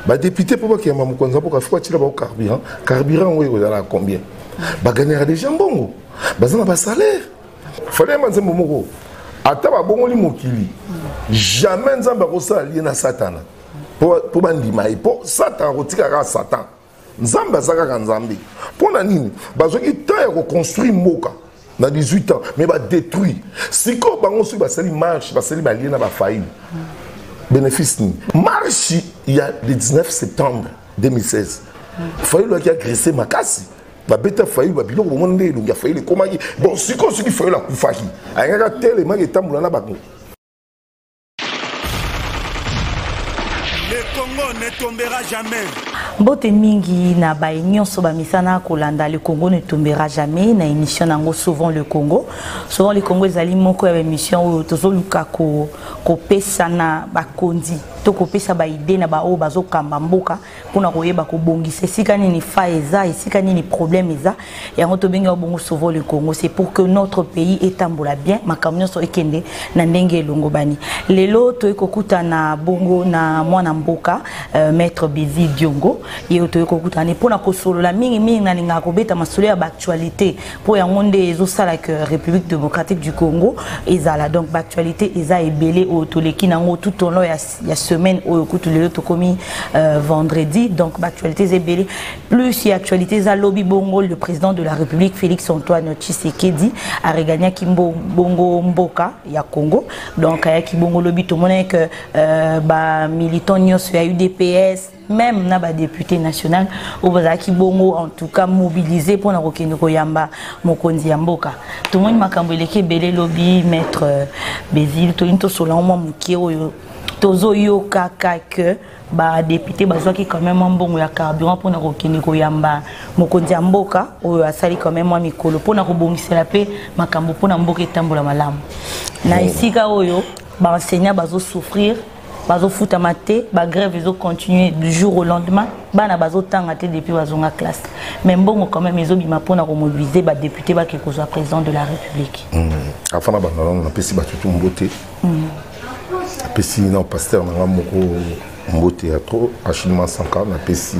badepute mpo bakeyama mokonzi ya mboka fo atila bango carburant carburant yango ekozala na combien bagagnaka deja mbongo baza na basalaire fale manzembo moko ata babongoli mokili jamais nzambe akosala lie na satana mpo bandima ye mpo satana akotika kaka satan nzambe aza kaka nzambe mpo na nini bazwaki temps ya koconstruire mboka na 18 ans mais badétruit sikoyo bango soki basali marche basali balie na bafaille bénéfice nini marche ya le 19 septembre 2016 fayulu aki agresse makasi babeta fayulu babiloko bomoni nde elongi ya fayulu ekomaki bon sikoyo soki fayulu akufaki ayangaka telemaki etambola na bango Le Congo ne tombera jamais. mbote mingi na baye nyonso bamisana kolanda le congo ne tombera jamais na émission na yango souvent le congo souvent le congo ezali moko ya baémission oyo tozoluka kopesa na bakonzi to kopesa baide na baoyo bazokamba mboka mpo na koyeba kobongisa esika nini fa eza esika nini problème eza yango tobengi yango bongo sauvo le congo c'est pour que notre pays etambola bien makambo nyonso ekende na ndenge elongobani lelo toyei kokutana bongo na mwana mboka euh, maître bizi diongo ye toyei kokutana ne mpo na kosolola mingimingi nalingaka kobeta masolo ya baactualité mpo yango nde ezosala que république démocratique du congo ezala donc baactualité eza ebele oyo toleki nango tout au long ya ya semaine oyo kutu lelo tokomi euh, vendredi donc baactualité eza ebele plus ya actualité eza lobi bongo le président de la république félix antoine tshisekedi aregagnaki bongo mboka ya congo donc ayaki bongo lobi tomonaki que euh, bamilitant nyonso ya udps meme na ba député national oyo bazalaki bongo en tout cas mobilisé mpo na kokende koyamba mokonzi ya mboka tomoni makambo eleki ebele lobi maître euh, béville toyini tosola mwa moke oyo tozoyokaka que badepute bazwaki quand même mwa mbongo ya carburant mpo na kokende koyamba mokonzi ya mboka oyo asali quand même mwa mikolo mpo na kobongisela mpe makambo mpo na mboka etambola malamu na esika oyo baenseignant bazosouffrir bazofutama te bagrève ezocontinue du jour au lendemain bana bazotanga te depuis bazonga classe mais mbongo quand même ezobima mpona komobilize badepute bake kozwa président de la république hmm. afana bangalango napesi batutu mbote napesi hmm. na pasteur nanga moko mbote ya trop achilima sanka napesi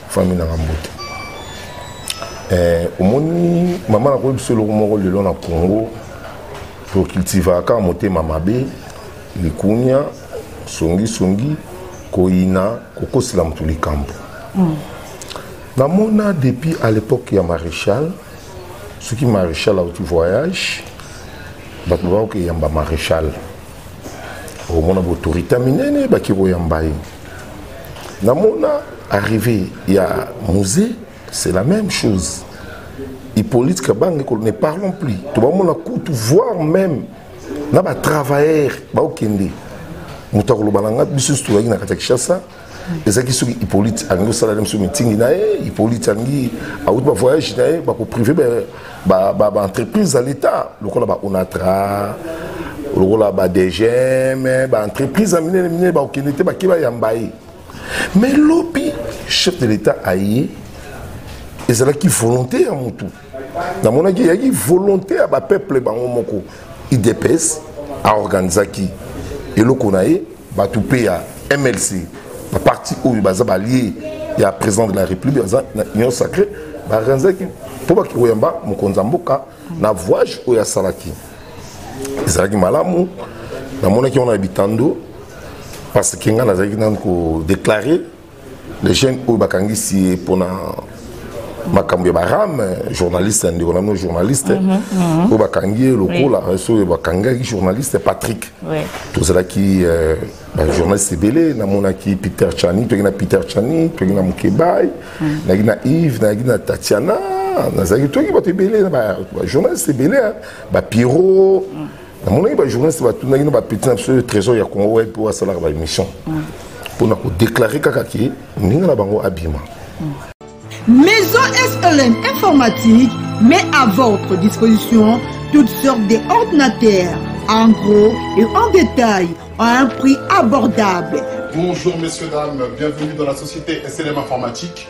famille nanga mbote eh, omoni mama nakoyebisa eloko moko lelo na congo tocultivaka motema mabe likunya songisongi koyina kokosela moto likambo mm. namona depuis à l'époque ya maréchal soki maréchal auti voyage bato bakoki eyamba maréchal omona baautorité minene baki koyamba ye namona arrivé ya musée c'est la même chose hippolyte kabange ne parlons plus tobamona kutu voir même na ba travailleurs baokende moto akoloba na nga biso nyonso tozalaki na kati ya kinshasa ezalaki soki hippolyte alingi osala na biso mitingi na ye hippolyte alingi awuti bavoyage na ye bakoprive baentreprise ya l'état lokola baonatra lokola badgm baentreprise ya minene minene bakokende te bake bayamba ye mais lobi chef de l'état aye ezalaki volonté ya motu namonaki eyaki volonté ya bapeuple bango moko idps aorganisaki eloko na ye bato mpe ya mlc baparti oyo baza balie ya président de la république baza na union sacré baorganisaki mpo baki koyamba mokonzi ya mboka na voyage oyo asalaki ezalaki malamu namonaki wana ya bitando parce que ngai nazalaki nanu kodeklare les jeunes oyo bakangisi ye mpona makambo ya barame journaliste ya ndeko na bino journaliste mhm, mhm. oyo bakangi ye lokola soki bakangaki journaliste patrick tozalaki euh, bajournaliste ebele namonaki peter chani toyaki na peter chani toyaki na mokebai mhm. nayaki na yves nayaki na tatiana nazalaki toyaki bato ebele na bajournaliste ebele bapiro namonaki bajournaliste batunaki na bapeti na biso trésor ya congo web oyo asalaka baémission mpo na kodeklare kaka ke ndenge na bango abima maison slm informatique met à votre disposition toutes sortes d'ordinateurs en gros et en détail à un prix abordable bonjour messieurs dames bienvenue dans la société slm informatique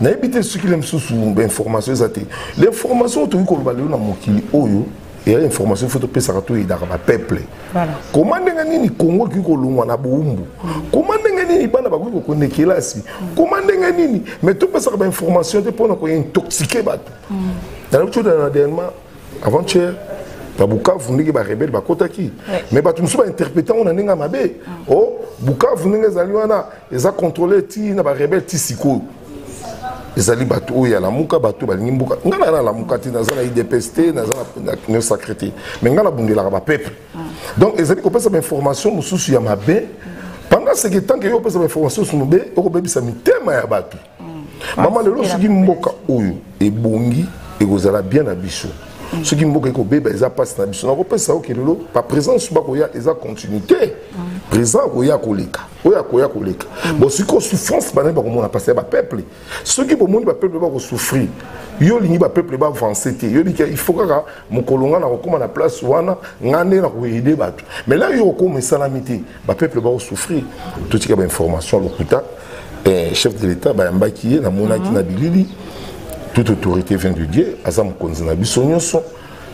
nayebi te soki le mosusu information eza te l'information oyo tokoki koloba lelo na mokili oyo eya information fo topesaka toyedaka bapeuple koma ndenge nini kongo ekoki kolongwa na boumbu koma ndenge nini bana bakoki kokende kelasi koma ndenge nini mai topesaka bainformation te mpona kointoxike bato mm. nalobi todana na dernièrement avant-hier na bukavu ndenge barebele bakotaki mais bato mosusu bainterprete yango na ndenge ya mabe o oh, bukavu ndenge ezali wana eza contrôle ti na ba rebelle ti sikoyo ezali bato oyo ya lamuka bato balingi mboka ngai naza na lamuka te naza na idps te naza na union sacré te mais ngai nabundelaka bapeuple ah. donc ezali kopesa bainformation mosusu ya mabe pendant ce que tant que yo opesa bainformation mosusu mabe okobebisa mitema ya bato mama lelo soki mboka oyo ebongi ekozala bien na biso mm. soki mboka ekobeba eza mpasi na biso nakopesa oke lelo baprésence bakoya eza continuité mm. présent akoya koleka oyo akoya koleka mm. bon sikoyo souffrance banani bakomona mpasi ya bapeuple soki bomoni bapeuple bakosouffrir yo olingi bapeuple baavance te yo oliki il faut kaka mokolo ngai nakokóma na place wana ngai nde nakoyede bato mais la yo okoma esalami te ba peuple ba souffrir totika ba information lokuta eh, chef de l'état bayambaki ye namonaki mhm. na bilili toute autorité vient de dieu aza mokonzi na biso nyonso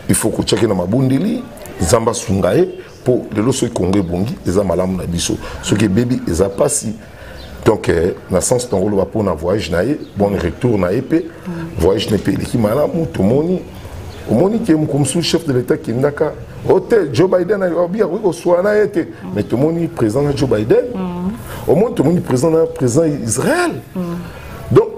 il faut kotiaki na mabondeli nzambe asunga ye mpo lelo soki kongo ebongi eza malamu na biso soki ebebi eza mpasi donc eh, na sens tongo oloba mpo na voyage na ye bon retour na ye mpe voyage na ye mpe eleki malamu tomoni omoni ke mokolo mosusu chef de l'état akendaka o oh, te joe biden abi akoki koswana ye te mais tomoni président na joe biden omoni tomoni président na président israël donc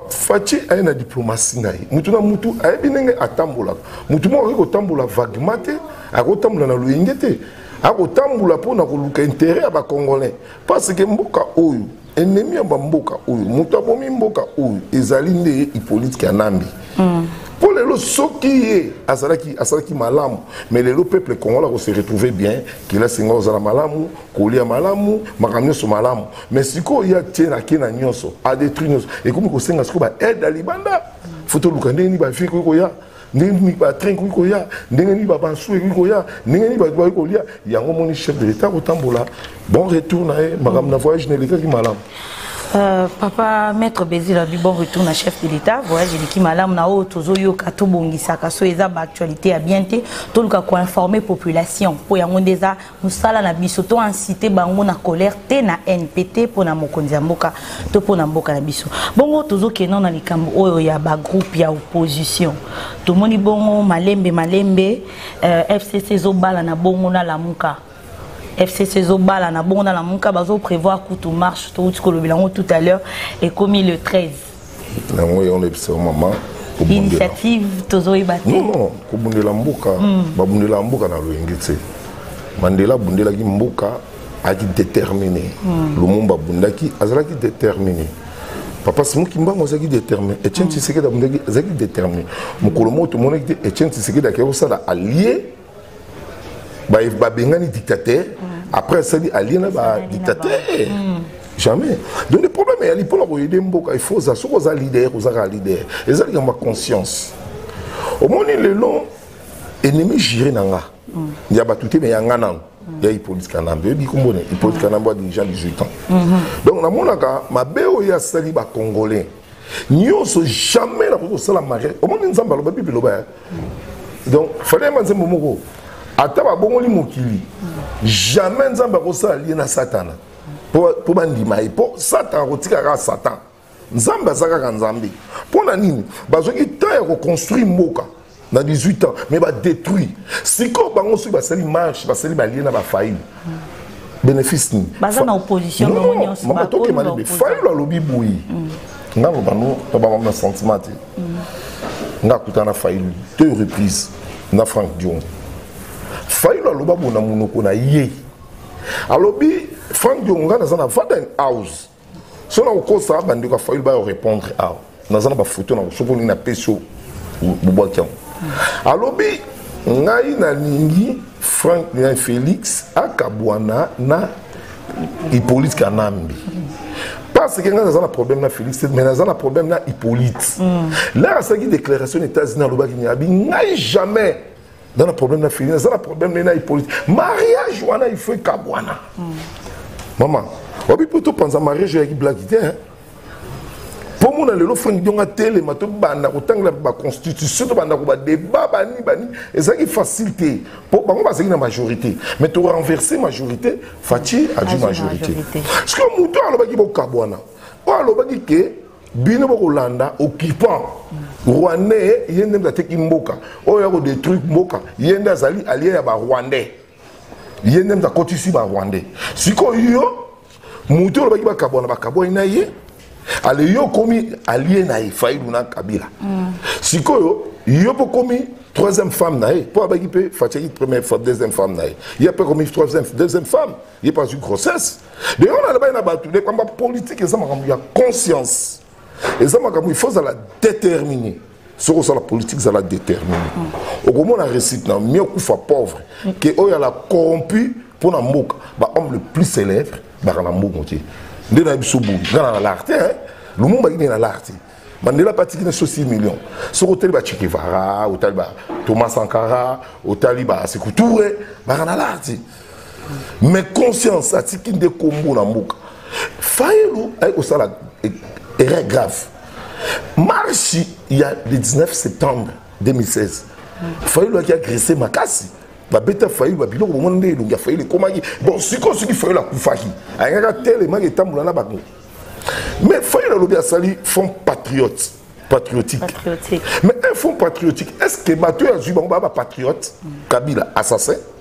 faci aye na diplomatie na ye motu na motu ayebi ndenge atambolaka motu moko akoki kotambola vaguement te akotambola na loyenge te akotambola mpo na koluka intérêt ya bacongolais parce que mboka oyo ennemi ya bamboka oyo moto abomi mboka oyo ezali nde hippolite kanambi mm. mpo lelo soki ye azalaki asalaki malamu mais lelo peuple congolais akose retrouve bien kelasi ngai ozala malamu kolia malamu makambo nyonso malamu mais sikoyo ye atie na ke na nyonso adetruit nyonso ekomi kosenga sikoyo baaide ya libanda fo toluka ndenge nini bafie koki koya ndenge nini batrain ekoki koya ndenge nini babansu ekoki koya ndenge nini bato bakoki kolia yango omoni chef de l'état kotambola bon retour na ye makambo na voyage na elekaki malamu Euh, papa maître bézil abi bon retour na chef de l'état voyage eleki malamu na oyo tozoyoka tobongisaka so eza baactualité ya bien te toluka koinforme population mpo yango nde eza musala na biso to incite bango na colère te na haine pe te mpo na mokonzi ya mboka to mpo na mboka na biso bongo tozokenda na likambo oyo ya bagroupe ya opposition tomoni bongo malembe malembe uh, eh, fcc ezobala na bongo na lamuka fcc ezobala na bongo na lamuka bazoprevoir kutu marche touti kolobela yango tout à l'heure ekomi le 13 yango yango nayebisa yo mama initiative tozoyeba te non non kobundela mboka hmm. babundelaka mboka na loyenge te mandela abundelaki mboka ayaki déterminé hmm. lumumba abundaki azalaki déterminé papa simo kimbangu azalaki déterminé etienne hmm. tshisekedi abundaki azalaki déterminé mokolo moko tomonaki te etienne tshisekedi akei kosala allié babengani dictateur après asali alie na badictateur hmm. jamais donc le problème eyali mpo na koyede mboka il faut oza soki oza leader oza kaka leader eza likambo ya conscience omoni lelo ennemi jure na nga hmm. ya bato te me ya nga nano hmm. ya hippolyte kanambe oyebi kombo ne hippolyte kanambe adirigent 18 ans donc namonaka mabe oyo asali bacongolais nyonso jamais nakoki kosala mariage omoni nzambe aloba bible eloba ya donc fale yema nzembo moko ata babongoli mokili jamais nzambe akosala lie na satana mpo bandima ye mpo satana akotika kaka satan nzambe aza kaka nzambe mpo na nini bazwaki temps ya koconstruire mboka na 18 ans mais badétruit sikoyo bango soki basali marche basali balie na bafaille bénéfice nini baza na opposition bango nyonso tokema libe fayulu alobi boye nga loba no babamami na sentiment te nga akutana na fayulu deux reprise na frank dion fayulu aloba bo na monoko na ye alobi frank dion nga naza na vaden house so na kokosa bandeko ya fayulu bayo répondre awa naza na bafoto na soki olingi napesi yo bobwaki yango alobi ngai nalingi frank ngai félix akabwana na hippolyte kanambi parce que ngai naza na problème na félix mais naza na problème na hippolyte mm. lere asalaki déclaration na états-unis alobaki nyabi ngai jamais nga na problème na fini naza na problème ne na hippolyte mariage wana il faut ekabwana mm. mama wabi mpo topanza mariage oyaki blaki te hein? mpo mona lelo frank dionga telema tobanda kotangela baconstitution tobanda ko badeba bani bani ezalaki facile te mpo bango bazalaki na majorité mais torenverse majorité faci adi majorité ceque moto alobaki bokabwana oyo alobaki ke bino bokolanda occupant rwandais ye nde moto ateki mboka oyo akodetruire mboka ye nde azali alie ya barwandais ye nde moto akotisi barwandais sikoyo moto oyo olobaki bakabwana bakabwani na ye ale yo okomi alie na ye failu na kabila mm. sikoyo yo mpo okomi troisième femme na ye mpo abaki mpe fatiaki première femme deuxième femme na ye ye mpe akomi troisième deuxième femme ye mpe azwi grossesse de yango nalobai na bato de pamba politike eza makambo ya conscience eza makambo il faut ozala déterminé soki osala politike zala déterminé mm. okomona récite na mieux okufa pauvre mm. ke oyo ala corrompu mpo na mboka bahomme le plus célèbre baka na mbongo te nde na biso boyi nga na lar te lumumba kini na lar te mandela mpe atiki na biso 6 million soki otali bachekevara otali ba thomas sankara otali basekuture baka na lar te mais conscience atiki nde kombo na mboka fayulu aye kosala e, erreur grave marche ya le 19 septembre 2016 fayulu aki agresse makasi babeta fayulu babiloko bomona nde elongi ya fayulu ekomaki bon sikoyo soki fayulu akufaki ayangaka telemaki etambola na bango mais fayulu alobi asali fond patriote patriotique. patriotique. Mais un fonds patriotique, est-ce que Mathieu Azubango va patriote Kabila, assassin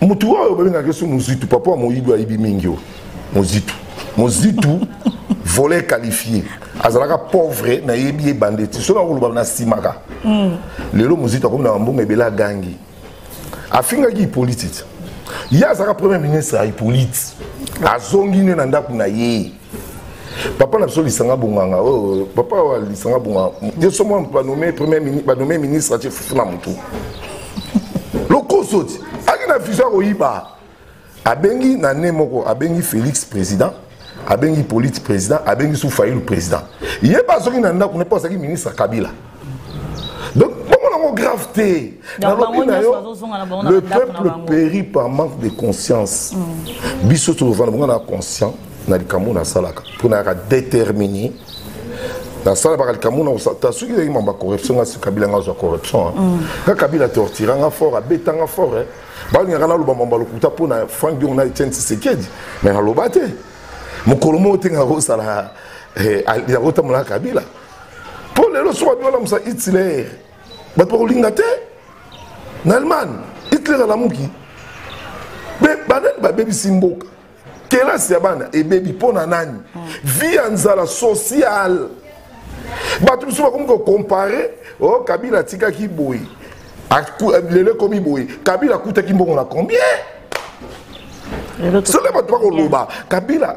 motu oyo babengaka so mozitu papa ya moyibi ayibi mingi oyo mozitu mozitu volet qualifié azalaka pauvre nayebi ye bande ti soki akoloba nasimaka hmm. lelo mozito akomi na bambongo ebele agangi afingaki hippolyte ye azalaka premier ministre ya hippolyte azongi nde na ndako na ye papa na biso lisanga bonganga oyo oh, papa wa lisanga bonganga yo so mwa banome premier banome ministre atie fufu na motu lokoso ti aki na vision akoyiba abengi na ne moko abengi félix président abengi polite président abengi su fayulu président ye ba azongi na ndako ne mpo azalaki ministre kabila donc bongo nango grave te nalobi na yo le peuple périt par manque de conscience mm. biso tozofanda bonga na conscient na likambo nasalaka mpo nayaka déterminé nasalabaka likambo na soki ezalaki mamba corruption nga kabila nga azwa corruption nga mm. kabila tortira nga fort abeta nga fort eh. balingaka naloba mamba lokuta mpo na frank diong na etienne tisekedi mais naloba te mokolo moko te nga kosala eh, yakotambolaka kabila mpo lelo soki abi olamusa hitler bato bakolinga te na allemagne hitler alamuki me banani babebisi mboka kelasi ya bana ebebi mpo na nani vi ya nzala sociale bato mosusu bakomi kokompare o oh, kabila atikaki boye lelo ekomi boye kabila akutaki mbongo na combien soki bato bakoloba kabila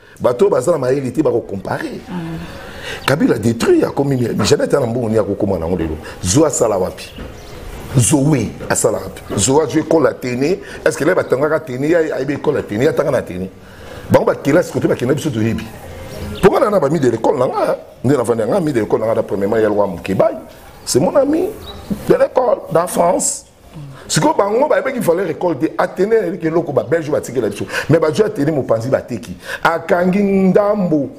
bato oyo baza na mayele te bakocompare kabila détruit akomi janete na mbongo nini akokoma nango lelo zwa asala wapi zoe asala wapi zoe azwi ekole ya tene est ce que le batangaka tene ye ayebi ekole ya tene ye atanga na tene bango bakelasi kote bakenda biso toyebi mpo nga nana bami de lekole na nga nde navandi yanga mi de lekole na nga na premièrement ya lwa mokebai c'est mon ami de lekole dans france sikoyo bango bayebaki valeur école te atene yayebiki eloko babelge batikela biso mais bazwi atene mopanzi bateki akangi ndambo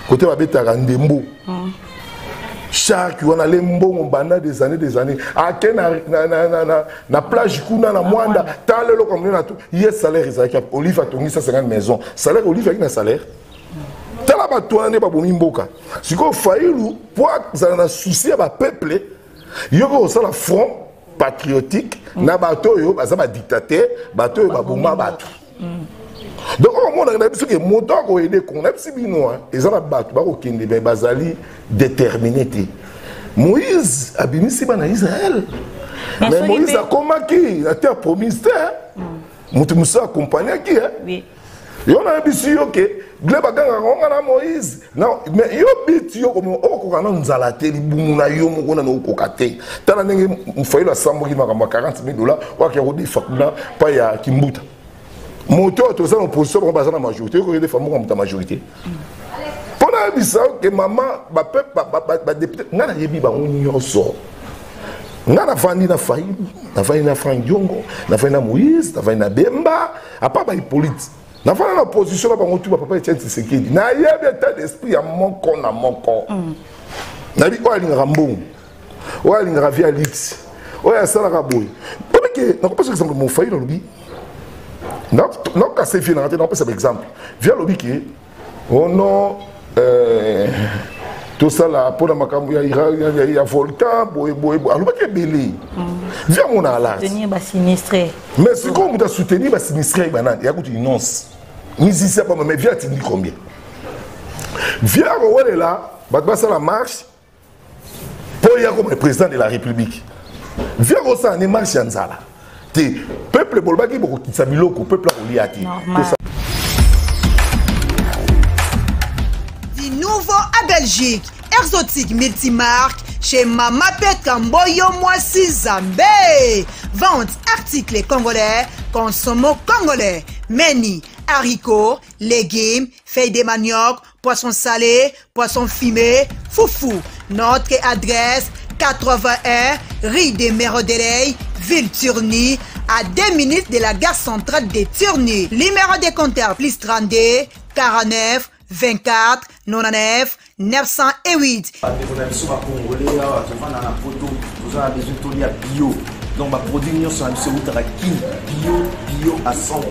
kote babetaka ndembo mm. sharki wana le mbongo banda des années des années ake na, na, na, na, na, na plage kuna na mwanda tala eloko amoni na to ye salaire ezalaki olive atongisa 50 maison salaire olive ayaki na salaire tala bato wana nde babomi mboka sikoyo failu mpo azala na susi ya bapeuple yo mpe osala front patriotique mm. na bato oyo baza badictateur bato oyo baboma bato mm. donc okomonaka na biso ke moto akoyede kongo na bisi bino eza na bato bakokende me bazali déterminé te moïse abimisi bana israel mais moïse akomaki na terre promise te moto mosusu akompagnaki yo nayebisi yo ke gle bagangaka ngo nga na moïse mais yo biti yo okoka nanu nzala te libumu na yo moko nanu okoka te tala ndenge fayilo asambwaki makambo ya 40 000 dollar oakea kodefa kuna pa ya kimbuta moto oyo toza na opposition bango baza na majorité okoki defa moko moto ya majorité mpo nayebisa yo ke mama badepute ngai nayebi bango nyonso nga nafandi na fayulu nafandi na frank diongo nafandi na moïse nafandi na bemba apa ba hippolyte nafanda na opposition na bango tu bapapa etienne tshisekedi nayebi etat d'esprit ya moko na moko mm. nayebi oyo alingaka mbongo oyo alingaka vie ya lipsi oyo asalaka boye obike nakopesa exemple mofai nalobi nakokasa vie nanga te nakopesa baexemple vie alobi ke oh non euh, tosala mpo na makambo ya, ya, ya, ya volcan boyeboye alobaki ebele mm. vi amona alasbasinistre mais sikoyo moto asoutenir basinistre ye banani ya kutu inonce mizisia bama mais vi atindi combien vi akowelela bato basala marche mpo ye akoma président de la république via kosala ne marche ya nzala te peuple bolobaki bokokitisa biloko peuple akolia te nouveau à belgique exotique multimarque chez mama petra mboyo mwasi zambe vente article congolais consomo congolais meni haricot légumes feuille de manioc Poisson salé, poisson fumé, foufou. Notre adresse 81 rue des Mérodeley, ville Turni, à 2 minutes de la gare centrale de Turni. Numéro de compteur plus 32 49 24 99 908. bandeko na biso bakongole awa tovanda na poto toza na besoin tolia bio donc baproduit nyonso na biso eutaka kin bio bio à 100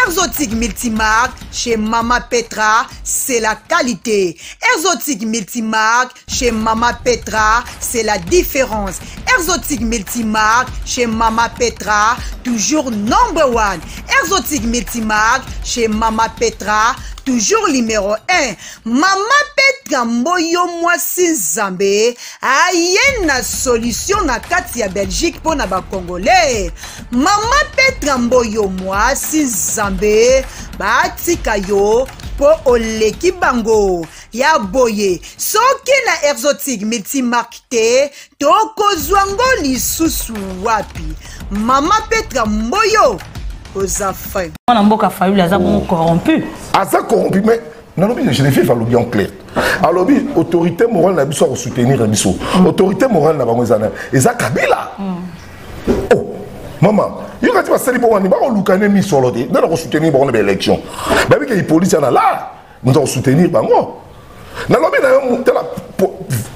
exotique multimarque chez Mama Petra, c'est la qualité. Exotique multimarque, chez Mama Petra, c'est la différence. Exotique multimarque, chez Mama Petra, toujours number one. Exotique multimarque, chez Mama Petra, toujours numéro 1 mama petra mboyo mwasi nzambe aye na solution na kati ya belgique mpo na bacongolais mama petra mboyo mwasi zambe batika yo mpo oleki bango ya boye soki na exotique multimarque te tokozwa ngo lisusu wapi mama petra mboyo oza fin mwana mboka fayuli aza bongo corrompu aza corrompu mais nalobi geneviève alobi en clair alobi autorité morale na biso akosoutenir biso mm. autorité morale na bango eza na eza kabila mm. oh mama yo kati basali mpo wani bakoluka ne misolo te nde nakosoutenir bango na baélection bayebi ke ipolisi ana la moto akosoutenir bango nalobi na yo tala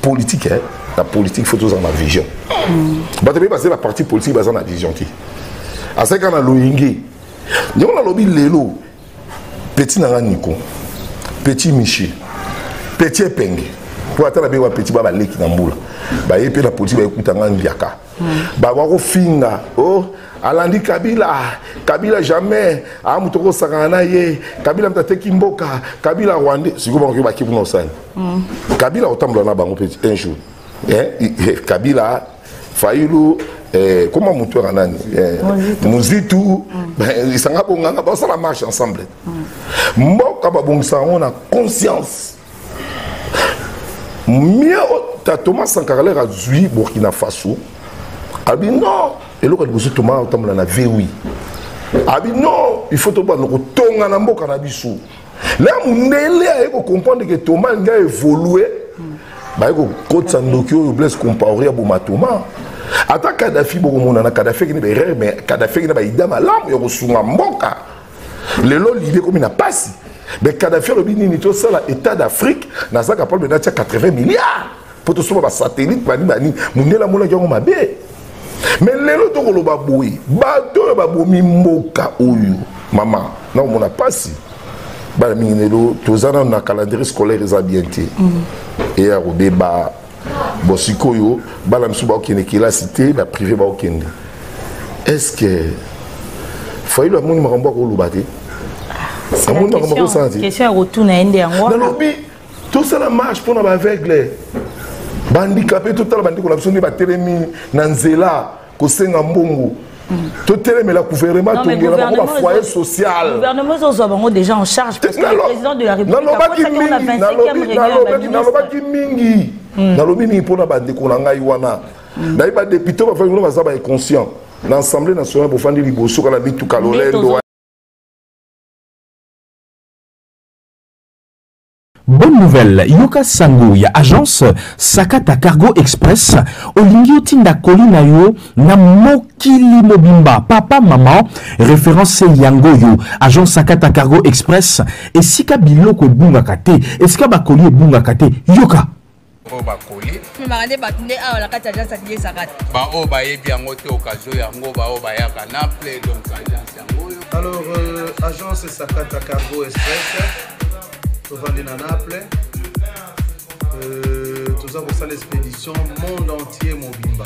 politique eh? na politique faut tozala na vision mm. bato ebei bazali baparti politique baza na vision te azali kaka na loyenge ndenge nalobi lelo petit na nga niko petit michel petit epenge mpo ata na bewa petit ba baleki na mbula baye mpe na politique bayekuta nga mbiaka hmm. bakoka kofinga o oh, alandi kabila kabila jamais aa moto okosangana na ye kabila moto ateki mboka kabila rwandais sikoyo bango bakebuna osani hmm. kabila otambola na bango mpe un jour eh, eh, kabila fayulu eh, koma motu yaka nani eh, muzitu mm. eh, lisanga bonganga basala marche ensemble mm. mboka babongisa yango na conscience mie ta thomas sankarler azwi burkina faso abi non eloko ya liboso toma otambola na vwi abi non il faut tobanda kotonga na mboka na biso na mundele aye ko comprendre que Thomas nga évoluer baye ko kotsa ndoki oyo Blaise Compaoré ya boma Thomas ata Kadhafi bokomona na Kadhafi kini ba erreur mais Kadhafi kini ba idée malamu ya kosunga mboka lelo l'idée komi na pasi mais Kadhafi alobi nini tosala état d'Afrique nazaka problème natia 80 milliards mpo tosomba basatelite bani bani mondele amonaki yango mabe me lelo tokoloba boye bato oyo babomi mboka oyo mama na komona mpasi bana mingi lelo toza nano na calendrier scolaire eza bien te mm. eya kobeba bon sikoyo bana mosusu bakokende kelasi te baprive bakokende est ce que fayilo amoni makambo akoloba te amoni makambo akosala te nalobi tosala marche mpo na baaveugle bandikape totala bandeko na biso nde batelemi na nzela kosenga mbongo totelemela gouvernement tongela bango bafoyer socialnalobaki mingi hmm. nalobi mingi mpo na bandeko na ngai wana hmm. nayebi badepute bafai kuna baza bainconscient na assemblée nationale bofandi liboso kana mituka lolendo Bonne nouvelle, yoka sango ya agence Sakata Cargo Express, olingi otinda koli na yo na mokili mobimba. Papa, maman, référence yango yo. Agence Sakata Cargo Express, esika biloko ebungaka te, esika bakoli ebungaka te. Yoka! oyo bakoli memaka nde bato nde awa na kati agence ya bilesaka te baoyo bayebi yango te okazio yango baoyo bayaka na ple donc agence yango oyo alors euh, agence sakata cargo express tovandi na naple euh, toza kosala expédition monde entier mobimba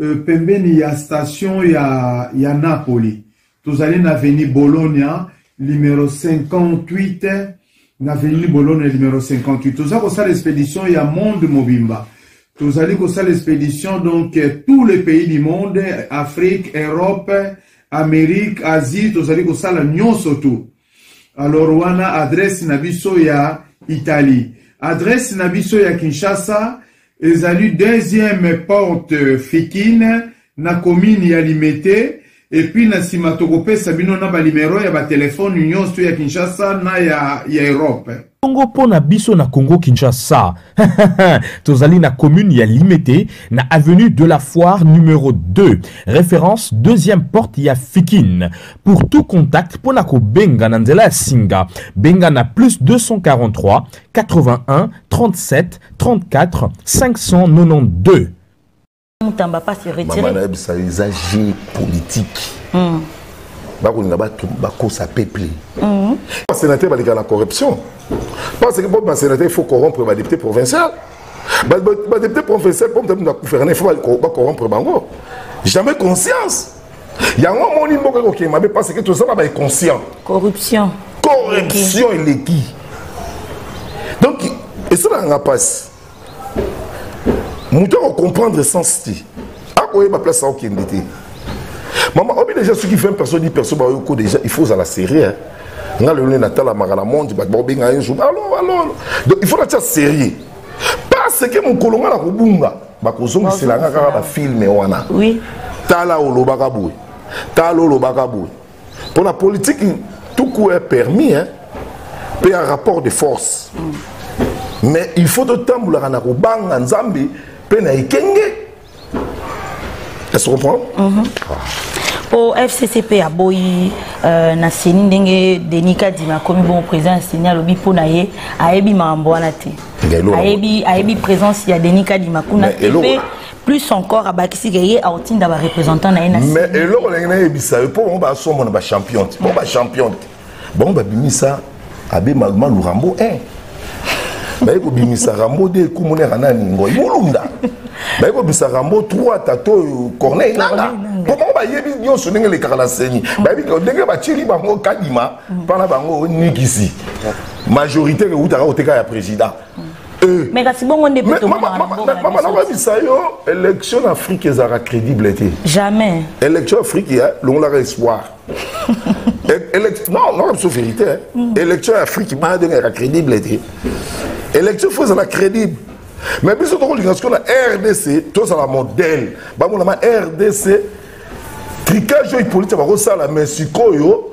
euh, pembeni ya station ya, ya napoli tozali na veni bologna numero 58 na veni bologna numero 58 toza kosala expédition ya monde mobimba tozali kosala expédition donc euh, tous les pays du monde afrique europe amérique asie tozali kosala nyonso tout alors wana adresse na biso ya italie adresse na biso ya kinshasa ezali deuxième porte fikine na commune ya limete epuis na nsima tokopesa bino na banimero ya batelefone nyonso ya kinshasa na ya, ya europe Bongo mpo na biso na Congo Kinshasa, tozali na commune ya Limete na avenue de la Foire numéro 2, référence deuxième porte ya Fikine. Pour tout contact mpo na kobenga na nzela ya singa, benga na plus 243 81 37 34 592. mutamba pas se retirer mama na bisa eza jeu politique mm. bakolinga bato bakosa peuple mm. basénateur baleka na corruption parce que mpo basénateur il faut corrompre badepute provincial badepute provincial mpo mutamutu akuferne fo bacorrompre bango jamais conscience yango omoni mboka ekokende mabe parce que toza na bainconscient corruption corruption eleki donc esalaka nga mpasi moto akocomprendre sens te akoyeba place akokende te mama obi déjà soki 20 personnes 10 personnes bayoko déjà il faut ozala sérieux hein? nga lelo nde natalamaka na monde bato bakobenga yo jour alo alo donc il faut natya sérieux parce que mokolo nga na kobunga bakozongisela nga kaka bafilme wana tala olobaka boye tala olobaka boye Pour la politique, tout coup est permis, hein. Puis un rapport de force. Mm. Mais il faut de temps pour la Ranakobanga, Nzambi, Pena et Kenge. Est-ce que vous comprenez mm -hmm. ah. mpo fccp aboyi euh, na seni ndenge denis kadima akomi bongo président ya seni alobi mpo na ye ayebi makambo wana te ayebi présence ya denis kadima kuna te mpe plus encore abakisi ke ye akotinda barepresentant na ye na mais eloko ndenge nayebisa yo mpo bango basombo na bachampion te mpo bachampion te bango babimisa abe malumalu rambo 1 baye kobimisa rambo de ekumonaka nani ngoi molunda baye kobimisa rambo 3 tata oyo corneille nanga mpo bango bayebi nyonso ndenge elekaka na seni bayebi ndenge batyeli bango kadima mpo na bango nikisi majorité ewutaka koteka ya président Eh. mais kasi bongo nde mpe tomonamama nakoyebisa yo élection na afrique ezalaka crédible te jamais élection afrique ya longolaka espoir non nakoyebisa biso vérité mm. élection ya afrique maa ndenge yaka crédible te élection fo ezala crédible mais biso tokolinga sikoyo na rdc tozala modèle bamonama rdc tricage oyo ipolite bakosala mais sikoyo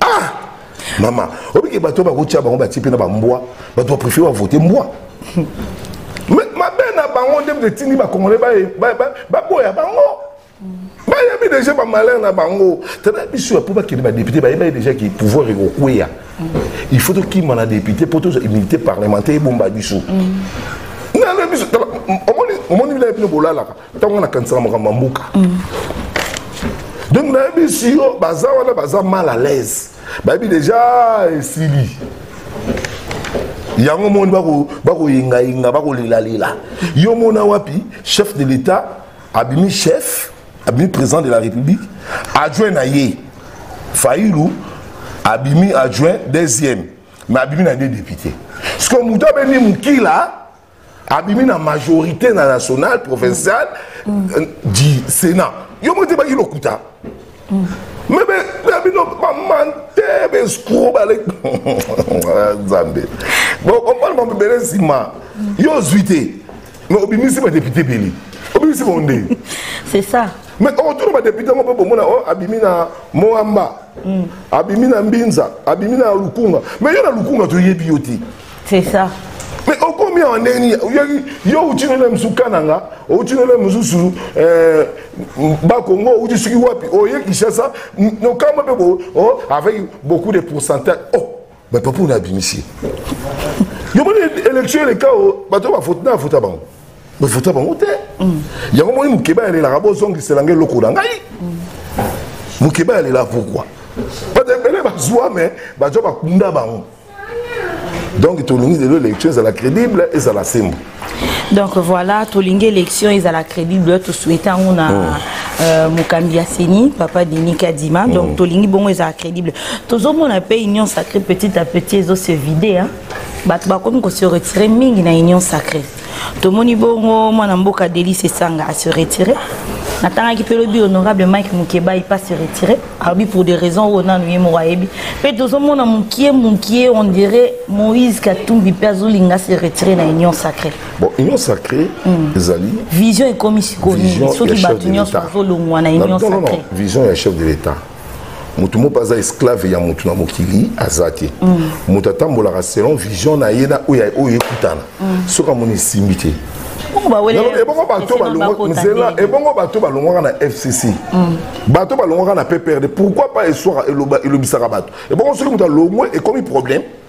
ah mama obike bato bakotya bango batie mpe na bambwa bato baprefere bavote mbwa mabe na bango nde mpe etindi bakongole baboya bango bayebi deja bamalheur na bango tala biso ya mpo bakende badepute bayebai deja ke pouvoir ekokweya il faut tokima na depute mpo tozwa immunité parlementaire ebomba biso omoni bilai bino bolalaka ntango nakanisaka makambo ya mboka donc nayebi siyo baza wana baza mal à l'aise bayebi deja ah, esili yango moni bakoyengayenga bakolelalela yo mona wapi chef de l'état abimi chef abimi président de la république adjoint na ye failu abimi adjoint deuxième mais abimi na nde député sikoyo moto abendi mokila abimi na majorité na nationale provinciale mm. euh, du sénat yo moko te baki lokuta mm. mais na bino bamante bescro bale nzambe bokompane bango ebele nsima yo ozwi te mais obimisi badepute ebele obimisi bango nde c'est ça mais okotuna badepute yango mpe bomona o oh, abimi na moamba mm. abimi na mbinza abimi na lukunga mais yo na lukunga toyebi yo te C'est ça. Mais au combien on est ni yo utino le msuka nanga, utino le msusu euh ba Congo ou suki wapi oye Kinshasa no kama pe bo oh avec beaucoup de pourcentage. Oh, mais papa on a bimisi. Yo moni élection le cas bato ba vote na vote bango. Ba vote bango te. Mm. Yango moni mukeba ya la rabo zongi selanga loko na ngai. Mm. Mukeba ya la pourquoi? Pas de belle bazwa mais bazwa bakunda bango. donc tolingi lelo élection ezala crédible ezala sembo donc voilà tolingi élection ezala crédible tosouhaite yango na oh. euh, mokambi ya seni papa denis kadima oh. donc tolingi bongo ezala crédible tozomona mpe union sacrée petit à petit ezo se vide bato bakomi kose retire mingi na union sacrée tomoni bongo mwana mboka delis esanga ase retire natangaki mpe lobi honorable mike mukebayi mpe ase retire alobi pour des raisons oyo nanu ye moko ayebi mpe tozomona mokie mokie on dirait moïse katumbi mpe azolinga se retire na union sacré bon union sacré hmm. ezali vision ekomi sikoyo soki bato nyonso bazolongwa na union sacré vision ya chef de l'état moto moko aza esclave ya moto na mokili aza te mm. moto atambolaka selon vision na ye na oyo oyo ekutana mm. soki amoni esimbi te ebongo bato balongwaka na fcc mm. bato balongwaka na pprd pourquoi pas elobisaka bato ebongo soki moto alongwe ekomi problème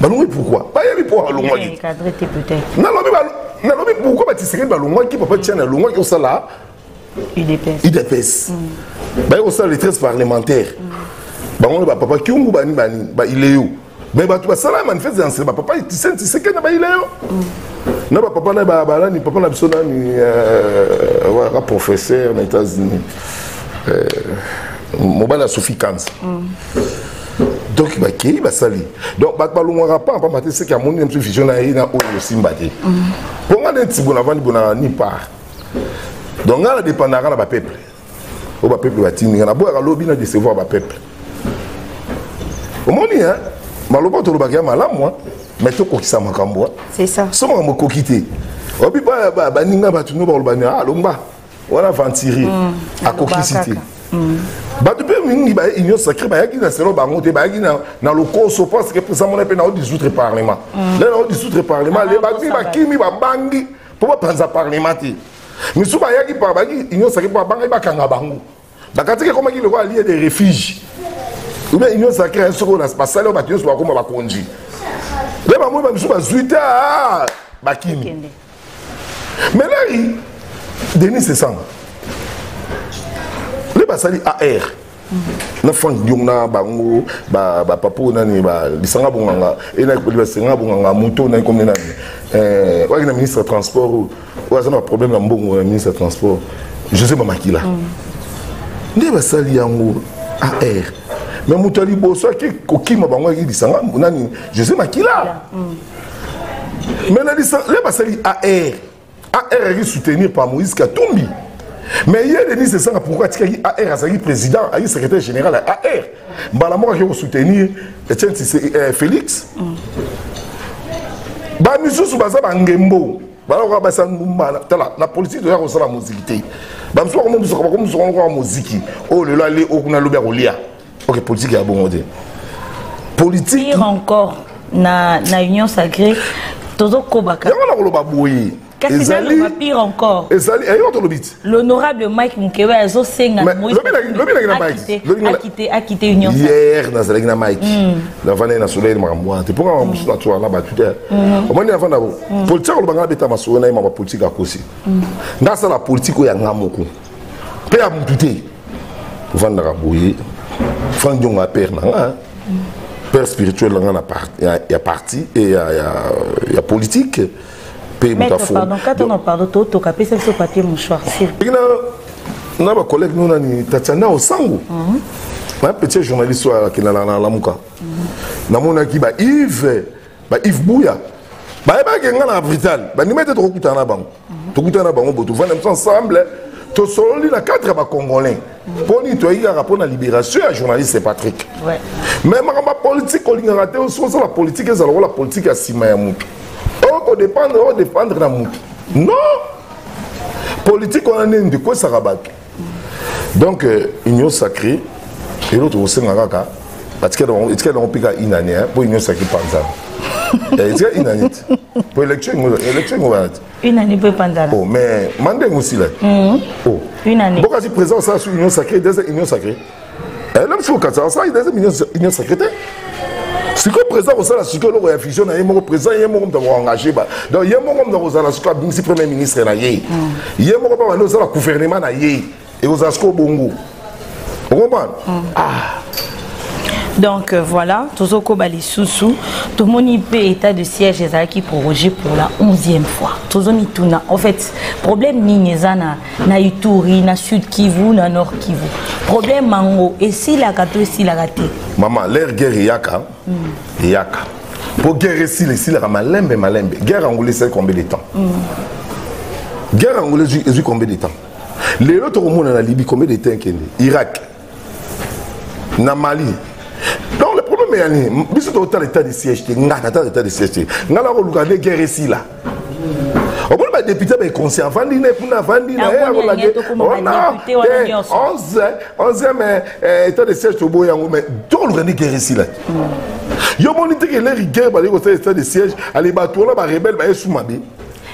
balongwaki pourkui bayebi mpo balongwaki nalobi nalobi pourkui batisekeli balongwaki papa tiani alongwaki osala idps mm. baye kosala litresse parlementaire mm. bango nde bapapa kiungu bani bani baileyo me bato basala manifeste ya nsela bapapa tiseni tiseke na baileyo mm. na bapapa na balani papa na biso nani euh, waka professeur na états-unis euh, mobali ya sophie kanza donc bakei basali donc bato balongwaka mpa mpamba te seke amoni na biso vision na ye na oyo osimba te mpo ngai neti bona avandi bonaka ni part donc ngai nadependaka na bapeuple oyo bapeuple batindi ngai naboyaka lobi na decevoir bapeuple omoni hein maloba tolobaka ya malamu me tokokisa makambo so makambo ekoki te obi baninga bato no balobani alomba wana aventurier mm. akokisi te mm. bato mpe mingi ba union sacré bayaki na selo bango te bayaki na lokoso parce que président mona mpe nao 18 parlement mm. le nao 18 parlement le bato mpe bakimi babangi mpo bapanza parlement te misusu bayaki bayaki union sacré mpo babangaki bakanga bango bakatiki ekomaki lokola lie de refuge obe union sacré ya soko basali oyo bato nyonso bakoma bakonzi le bamoi bamisusu bazwi te ah, bakimi mais là il Denis c'est ça les basali AR mm. na frank diong na bango bapapa oyo nani lisanga bonganga enabasenga bonganga moto nani komi nani eh, waki na ministre ya transport oyo aza na baproblème ya mbongo ya ministre ya transport josé mamakila mm. nde basali yango ar mais moto ya liboso ake kokima bango yaki lisanga nani josé makila mm. mais na licence le basali ar ar ayaki soutenir par moïse katumbi mais ye denis esanga pourkui atikaki ar azalaki président ayaki secrétaire général ya ar mbala moko akei kosoutenir etienne eh, félix mm. bamisusu baza bangembo balokoka basa mbala tala na politiki toya kosala moziki te bamosusu bakomomusuka bakomusuka lokoka moziki oyo lelo ale okuna lobi akolia ok politique ya bongo te politique pire encore na na union sacrée tozokobaka yango nakoloba boye ezali pire encore ezali ayewa tolobi ti l'honorable mike mukewe azosenga akite union hier nazalaki na mike hmm. navandaki na soleil makambo wana te mpo kaka mosusu natsoka na bato te hmm. omoni navanda bo hmm. politike akoloba ngai abeta masolo na ye ma bapolitike akosi ngai asala politike oyo ya ngai moko mpe ya motu te vandaka boye frank diongo apere na nga père spirituel na nga na par, ya, ya parti e ya, ya, ya politique mpe moto afotoka pesa biso papier mouchoir na, na bacollègue no nani tatiana osango mm -hmm. na petit journaliste oyo akendana na lamuka mm -hmm. namonaki ba ive ba Yves Buya bayebaki ngai na brital bandima ete tokokutana na bango tokutana na bango bo tovanda biso ensemble tosololi na cadre ya bacongolais mpo nini toyaki kaka mpo na libération ya journaliste patrick mais makambo ya politike olingaka te soki osala politike ezala lokola politike ya nsima ya motu okodépendre odépendre na motu non politike wana nini ndekwesaka bato donc euh, union sacrée eloko tokosenga kaka etikela yango mpe kaka inane mpo union sacrée panzana eh, etika inane te mpo élection yango wana te inane mpe panzana oh, mais mandenge osila te mhm. oh. boka si présent osala sur union sacrée deza union sacrée Eh, lelo fo kati asala eza union secrétaire sikoyo président akosala sikoyo eloko ya fusion na ye moko président ye moko moto akoengage ba donc ye moko moto akozala sikoyo abimisi premier ministre na ye mm. ye moko mpe bandi osala gouvernement na ye ekozala sikoyo bongo okomprendre mm. ah. donc euh, voilà tozokoba lisusu tomoni mpe état de siège ezalaki prorogé pour la 11e fois tozomituna en fait problème nini eza na na ituri na sud kivu na nord kivu problème yango esilaka to esilaka te mama lere guerre eyaka mm. eyaka mpo guerre esila esilaka malembe malembe guerre yango esali combien de temps mm. guerre yango ezwi combien de temps lelo tokomona na libi combien de temps ekende irak na mali donc le problème ya nini biso totala état de siège te nga natala état de siège te nga nakoluka nde guerre esila omoni badepute baekonsi avandi ne kuna avandi na ye akolande wana 11 mai état de siège toboyi yango mai tokoluka nde guerre esila te yo omoni te keleri guerre baleki kosala état de siège ale bato wana barebele bayesu mabe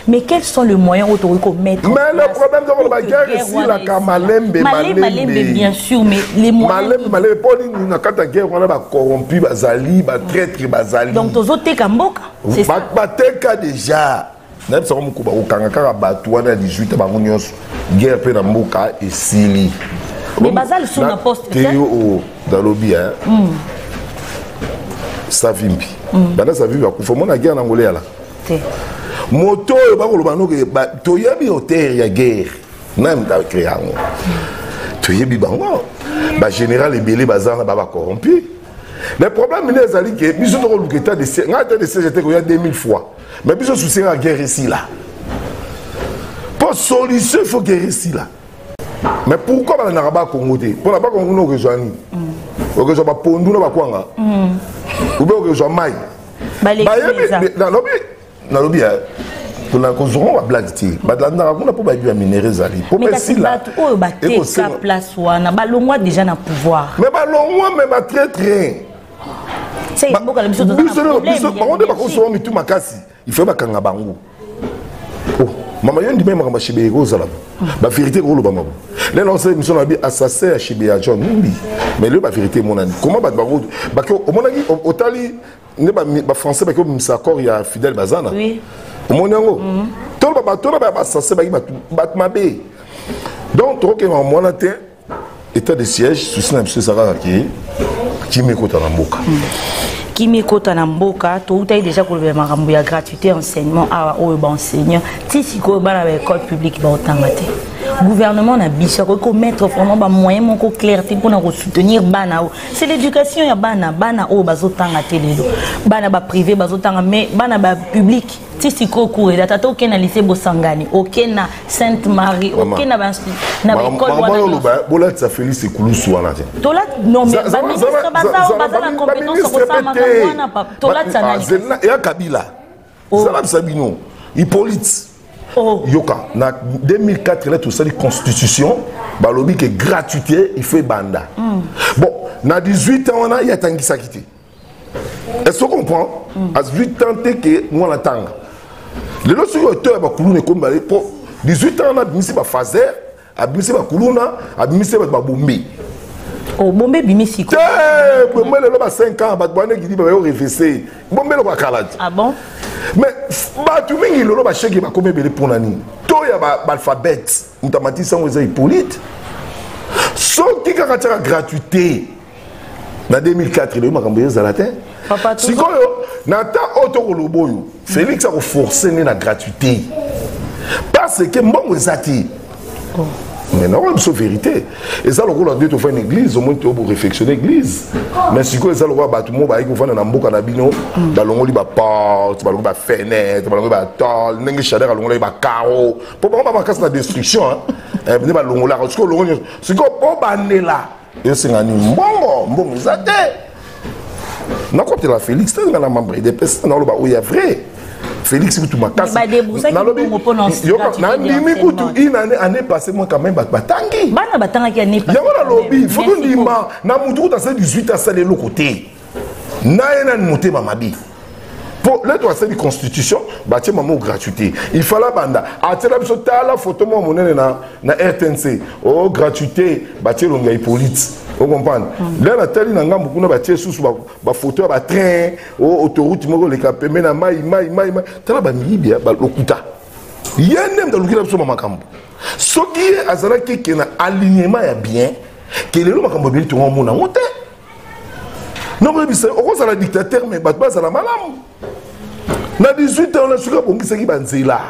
Mais quels sont les moyens où tu peux mettre Mais le problème de la guerre ici, la kamalembe, malembe, malembe, bien sûr, mais les moyens. Malembe, malembe, pour nous, na kata guerre, on a ba corrompu, ba zali, ba traître, ba zali. Donc, tozo teka mboka, c'est ça. Ba teka déjà. Na bisa ko mukuba ko kanga kaka batu wana 18 bango nyonso. Guerre pe na mboka esili. Mais bazali sous na poste. Teo o dalobi hein. Mm. Savimbi. Mm. Bana savimbi akufa mona guerre na ngolea là. te moto oyo bakoloba noke toyebi hotere ya guerre naye moto acree yango toyebi bango bagénéral ebele baza na baba corrompu le problème nde ezali ke biso tokoluka etat de siège ngai etat de siège ete koya 2000 fois mais biso susi nga guerre esila mpo solution il faut guerre esila mais pourquoi balandaka bakongo te mpo na bakongo nde okozwa nini okozwa bapondu na bakwanga ube okozwa mai bayebi nalobi nalobi ya kolanda kozonga bablage te balandaka kuna mpo bayebi baminere ezali mpo basilabato oyo bateka place wana balongwa déjà na pouvoir me balongwa me batraitre biso bango nde bakosoba mitu makasi ifaye bakanga bango oh, mama yo ndima makambo ya shibe ekozala baverité ekolobama bo lelo ose émission na bi assassin ya shibe ya john mumbi mais lelo baverité emonani comment bato bango bake omonaki otali nde bafrançais bake obimisa accord ya fidèle bazana omoni yango mhm. toloba bato na baya basasse baki bato mabe donc tokokema mwana te état de siège souci na biso ezalaka ke kimia ekota na mboka hmm. kimia ekota na mboka toutaki déjà kolobela makambo ya gratuité enseignement awa oyo baenseignant ti sikoyo bana ba école publique baotanga te gouvernement na biso akoki komettre vraiment bamoyen moko clair te mpona kosoutenir bana oyo c'est l'éducation ya bana bana oyo bazotanga te lelo bana baprivé bazotanga mais bana bapublique ti sikoyo kureda tata oke na lycée bosangani oke na sainte marie oke na baekolebolakisa félix ekulusu wana te baministre baza na compétence ya kosala makambo wana tolatisa ah, na ya kabila oh. zala bisa bino hippolyte oh. yoka na 2004 lete osali constitution balobi ke gratuité il faut ebanda hmm. bon na 18 ans wana ye atangisaki te est ce que comprend mm. azwi temps te ke mwana tanga lelo soki oto ya bakuluna ekomi bale mpo 18 ans wana abimisi bafaser abimisi bakuluna abimisi bato babombi oh, bombe ebimi siko te bombe lelo ba 5 ans bato bana ekidi bayo refese bombe eloko ya kala te ah bon mais bato mingi lelo basheki bakomi ebele mpo na nini to ya baalphabete ba moto amatisi yango eza hippolyte soki kaka tiaka gratuité na 2004 eloyi makambo yo ezala te sikoyo na temps oyo tokoloba oyo félix akoforce nde na gratuité parce que mbongo eza te oh. mais naoyo biso vérité eza lokola nde tofai na église omoni to boréfectionne église mais sikoyo eza lokola bato moko bayaki kofanda na mboka na bino balongoli baporte balongoli bafenêtre balongoli batole ndenge shader alongolaki bacaro mpo bango ba makasi na destruction eh, nde balongolaka sikoyo olongo nyonso sikoyo mpo bandela esenga nini mbongo mbongo eza te nakotela félix te nga na membre edepes naoloba oyo ya vrai félix kutu makasi nalobi nandimi kutu une année année passé moi quand même bato batangi yango nalobi fo tondima na motu kutu ase 18 asala eloko te naye nani motema mabe po leto asali constitution batie mamo gratuité il fala banda atiela biso tala foto moko monene na, na rtnc o oh, gratuité batie elongi ya hippolite ocomprendre mm. lelo natali na ngambo kuna batie susu bafoto ya batrain o oh, autoroute moko oleka pembe na mai mai mai mai tala bamiyibi ya balokuta ye nde ndalukela biso ma makambo soki ye azalaki ke na alignement ya bien ke lelo makambo ebeli tongo omona yango te nakoyebisa okozala dictateur me bato bazala malamu na 18 ans na soki abongisaki banzela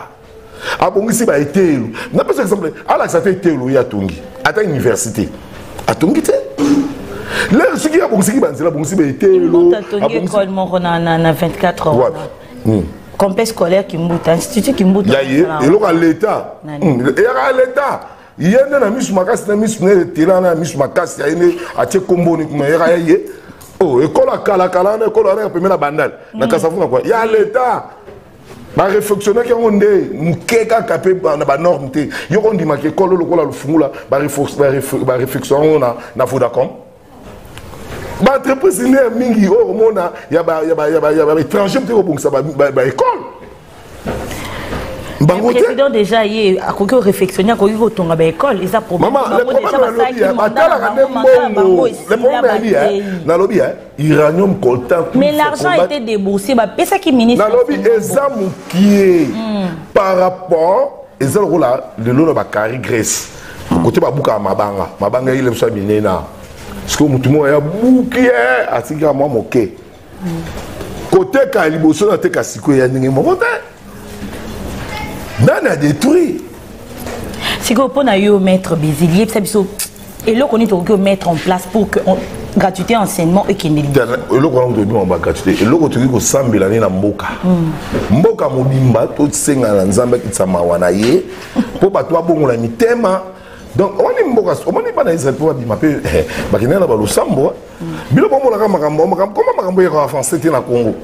abongisi baeteyelo napesa exemple alakisa ata eteyelo ye atongi ata université atongi te lere soki abongisaki banzela abongisi baeteyelo complexe scolaire kimbuta institut kimbuta ya ye eloko ya leta hmm, eyaka ya leta ye nde na misu makasi na misu na etela na misu makasi aye nde atie komboni kuna yaka ya ye oh, ekola kalakala wana ekola wana ya pembe na bandale na mm. kasavu na kwa ya leta bareflexionaki yango nde moke kaka mpe na banorme te yoko ondimaka ekolo lokola lofungula bareflexion yango na vodacom baentreprise nde ya mingi oyo komona ya baétranger mpe kobongisa baekole bango te président déjà ye akoki korefectionne akoki kotonga baekole eza problèmeatalaka nde mbongo nalobi ya iranium coltan mais l'argent était déboursé bapesaki ministre nalobi eza mokie hmm. par rapport eza lokola lelo na bakari grèce kote babukaka mabanga mabanga eyile biso ya minene awa sikoyo motu moko ya buki ye eh, atikaka mwa moke koteka liboso nateka sikoyo ya ndenge moko te nani adétruit sikoyo mpo na yo maître bézil yebisa biso eloko nini tokoki omettre en place pour que on... gratuité enseignement ekende eloko wana toyebi maba gratuité eloko tokoki kosambela nde na mboka hmm. mboka mobimba tosengana na nzambe akitisa mawa na ye mpo bato babongola mitema donc omoni mboka omoni bana israel mpo babima mpe eh, bakendaka na balosambo bino bomonaka makambo makambo koma makambo yaka avance te na congo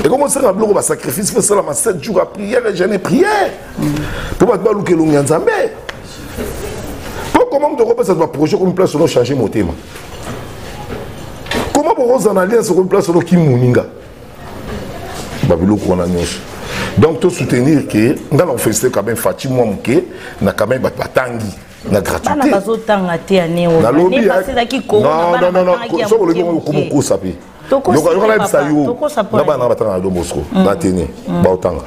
ekomosalaka biloko basacrifice mpe salama 7 jours ya prière et jeune prière mpo bato baluka elongi ya nzambe mpo koma moto okopesa baprojet komi place ono change motema koma bokozala na alliance okomi place ono kimoninga babiloko wana nyonso donc to soutenir ke nga na ofesite quand même faci mwa moke na quand même bato batangi na gratuité bazotanga te ya neo nalobi soki olobi yango okomokosa mpe yoka yebisa yo na bana batanga na don bosco na tene baotanga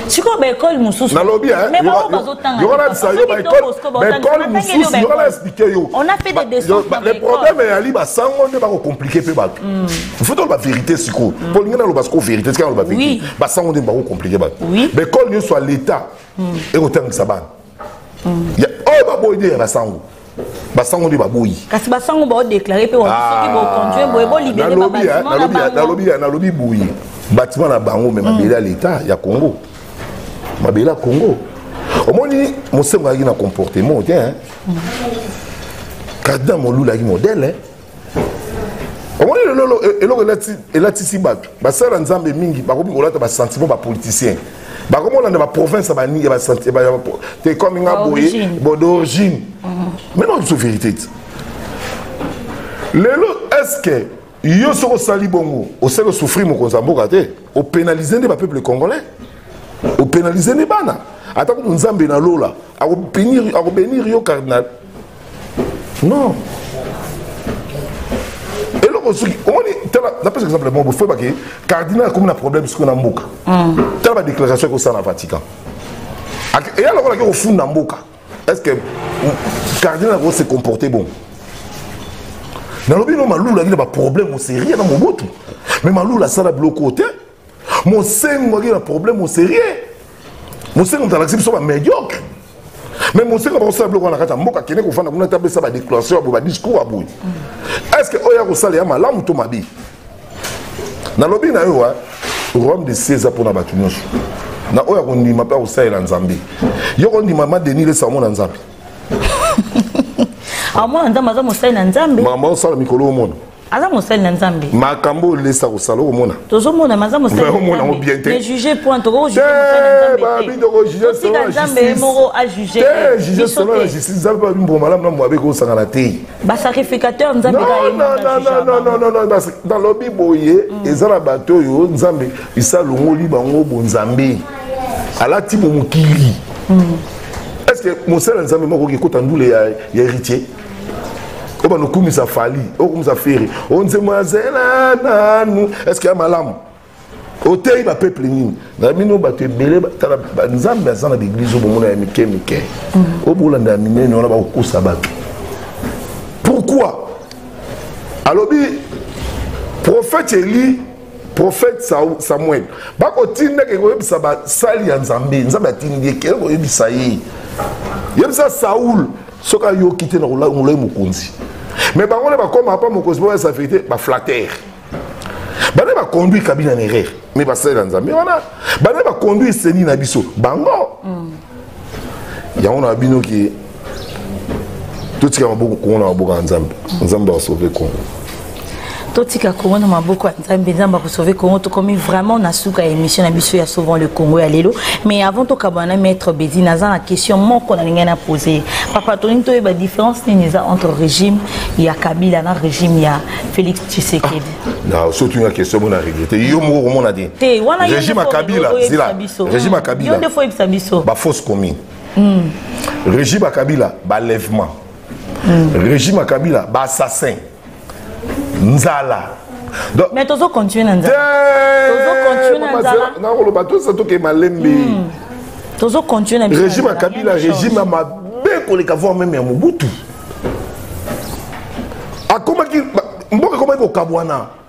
sikoyo baekole mosusu nalobi yokanabisa yo baekole mosusu yoka na explike yo le problème eyali basango nde bakokomplike mpe bato mm. faut toloba vérité sikoyo mm. mpo lingi naloba sikoyo vérité tika naloba vérité basango nde bakokomplike bato baekole nyonso ya l'état mm. ekotangisa bana oyo baboyi nde ya basango basango nde baboyi kasi basango baodeklare mpe wasoki ah, bokonjue boye bolibere nalobi boye batima na bango me mabele ya leta ya congo mabele ya congo omoni mosengo ayaki na comportement te kardina molulu ayaki modele omoni lelo e, eloko elatisi bato basala nzambe mingi bakomi kolata basentiment bapoliticien bakomi kolanda baprovince te comme nga boye bo d'origine mhm. maintenant biso vérité ti lelo est ce que yo soki osali bongo osali osouffrir mokonzi ya mboka te opénalise nde bapeuple congolais opénalise nde bana ata kutu nzambe na lola akobenir yo cardinal non eloko soki omoni tala napesa exemple moko bofoye bake cardinal akomi na problème sikoyo na mboka mm. tala badéclaration ekosala na vatican eya lokola ake kofunda mboka est ce que cardinal akose comporte bon nalobi no malulu akili baproblème oserieux na mobutu mais malulu asala biloko te mosengo aza na problème au sérieux mosengo moto alakisi biso bamédiocre mais mosengo bakosala biloko wana kati ya mboka akende kofanda kuna te apesa badéclaration ya boye badiscours ya boye est ce que oyo akosala ya malamu to mabe nalobi na yo royaume de sie eza mpona bato nyonso na oyo akondima mpe akosalela nzambe yo kondima ma denis lesa omona nzambe amona nzambe aza mosali na nzambe makambo akosala mikolo omona aza mosali na nzambe makambo oyo lesa kosala okomona tozomona maza mosaliomonango oh, bien te juge point tokokobabi tokojugetika nzambe moko ajuge juge solo na justice nzambe babi mbongo malamu na moabe ekosangana te basacrificateur nzambe nalobi boye mm. eza na bato oyo nzambe isa alongoli bango bonzambe alati bomokili mm. est ce que mosala nzambe moko okekota ndule ya héritier oyo banokumisa fali okumisa feri onzembo ya zela nanu eske ya malamu oteyi bapeuple nini na bino bato ebele tala nzambe aza na baeglize oyo bomona ya mike mike mhm. oyo bolanda ya minene wana bakokosa bato pourkui alobi prophète eli prophète samuel bakotindaka ekoyebisa basali ya nzambe nzambe atindi ye kee koyebisa ye yebisa saul soki ayoki te na kolongola ye mokonzi mais bango nde bakoma apa mokonzi moko esa verité baflatere bana baconduire kabina na erreur mais basalela nzambe wana bana baconduire seni na biso bango mm. yango na bino ke totika maboko kongo na maboko ya nzambe nzambe asauve kongo totika congo na maboko ya nzambe nzambe akosauve congo tokomi vraiment na suka ya émission na biso ya sauvant le congo ya lelo mais avant tokabana na maître bedi naza na question moko nalingai na pose papa tolingi toyeba différence nini eza entre régime ya kabila na régime ya félix tshisekedi ah, soki nga question mona regrete yo moko komona te te wana régime ya kabila zila régime ya kabila yo nde fo yebisa biso ba fausse commune hmm. régime ya kabila balèvement hmm. régime ya kabila baassassin nzala mais tozo continue na nzalanaoloba tosa toke malembe hmm. tozo continue na régime ya kabila régime ya mabe koleka voir meme ya mobutu akomaki mboka ekomaki kokabwana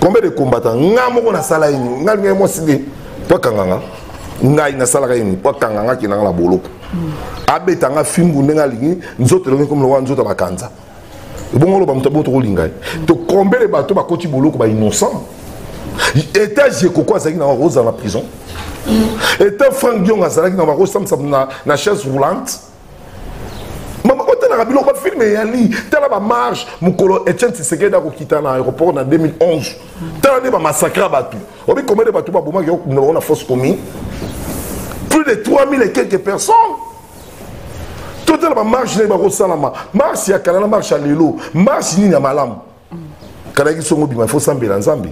combien de combattant nga moko nasala ye nini nga lingai mwasi nde po akanga nga ngai nasalaka ye nini po akanga nga kenda nga na boloko abeta nga fimbu ndenge alingi nzoto elongi komi lokola nzoto ya bakanza ebongo oloba moto aboto kolinga ye to combien de bato bakoti boloko ba innocent etat jekoko azalaki na ozala na prison etat frank diong azalaki na bakosambisa na chaise roulante mama otalaka biloko bafilme eyali tala bamarge mokolo etienne tisekedi akokita na aéroport na 2011 tala nde bamassacra bato obi combien de bato babomaki okunda bango na fausse commune plus de 3000 et quelques personnes totala bamarche ndenge bakosalama marche ya kala na marche ya lelo marche nini ya malamu kalaki songo bima fo sambela nzambe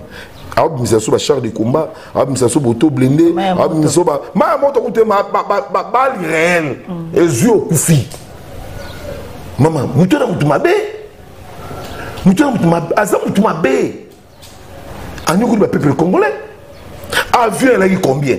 abimisa so bachar de combat abimisa so boto blende abimisa so maya moto kute babali réel mm. ezwi okufi mama moto na moto mabe moto na moto mabe aza moto mabe anyokoli bapeuple congolais avion elaki combien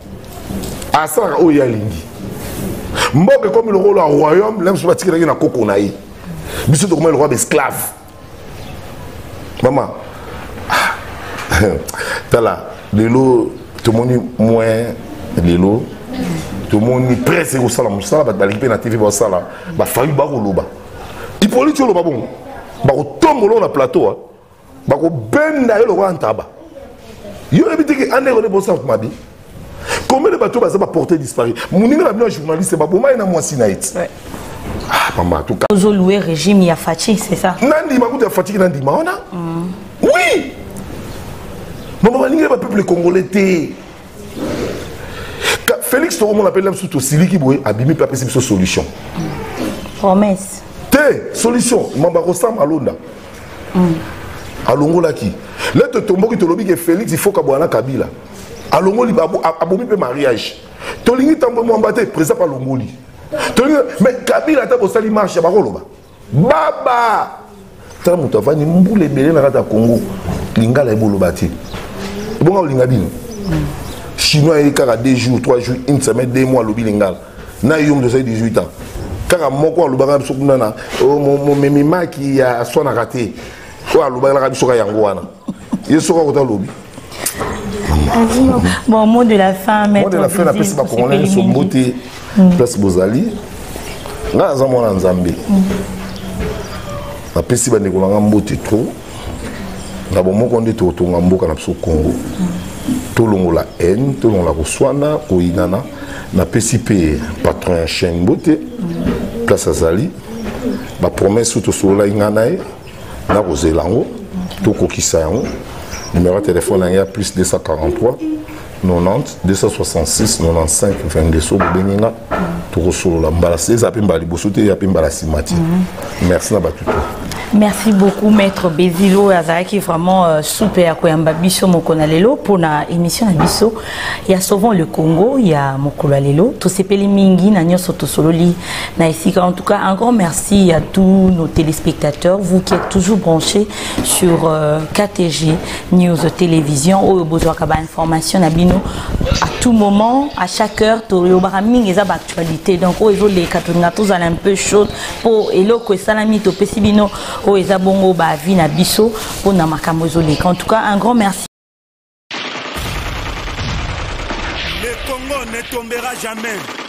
asalaka oyo ye alingi mboka ekomi lokola royaume na biso batikelaki na koko na ye biso tokomai lokola baesclave mama ah, tala lelo tomoni moyen lelo tomoni presse ekosala mosala bato baleki mpe na tv basala bafayu bakoloba ipoliti oloba bongo bakotombola na plateau bakobenda yo lokola ntaba yo oyebi teke andeko nde bosa mabi combien de bato baza baporte disparu moninga na bino ya journaliste baboma ye na mwasi na ye ti ah, mama tuka ozolue régime ya faci c'est ça nandima kutu ya fatiki nandima wana mm. oui mama balingeli bapeuple congolais te félix tokomona mpe labiso tosiliki boye abimi mpe apesi biso solution promesse te solution mamba kosamba alonda mm. alongolaki le totomboki tolobi ke félix ifokabwana na kabila alongoli abomi mpe mariage tolingi tambo mwamba te président palongoli tolingi me kabila ata bosali marche bakoloba baba tala moto avandi mbula ebele na kati ya congo lingala eboloba te ebonga olinga bino chinois ayebi kaka deux jours trois jours une semaine deux mois alobi lingala na yo moto osali 18 ans kaka moko alobaka biso kuna na oh, momemi maki ya aswanaka te oyo alobakelaka biso ka yango wana ye soki akota alobi bon mot de la fin mot de la fin napesi bakongolai nyonso mbote mm. place bozali ngai naza mwana nzambe mm. napesi bandeko na ngai mbote trop na bomoko nde tokotonga mboka na biso congo tolongola haine tolongola koswana koyinana napesi mpe patron ya chaine mbote place azali bapromese oyo tosololaki ngai na ye nakozela yango tokokisa yango numero ya telefone yange ya plus 243 90 266 95 22 so bobengi nga tokosolola mbala eza mpe mbala liboso te ya mpe mbala nsima te mhm. merci na bato to merci beaucoup maître bezilo oyo azalaki vraiment euh, souple ya koyamba biso moko na lelo mpo na émission na biso ya sauvant le congo ya mokolo ya lelo tosepeli mingi na nyonso tosololi na esika en tout cas un grand merci à tous nos téléspectateurs vous qui êtes toujours branchés sur euh, KTG news télévision oyo bozwaka ba information na bino à tout moment à chaque heure toyobaka mingi eza ba actualité donc oyo ezoleka tolinga tozala un peu chaude mpo eloko esalami topesi bino oyo eza bongo ba vie na biso mpo na makambo ezoleka en tout cas un grand merci Le Congo ne tombera jamais.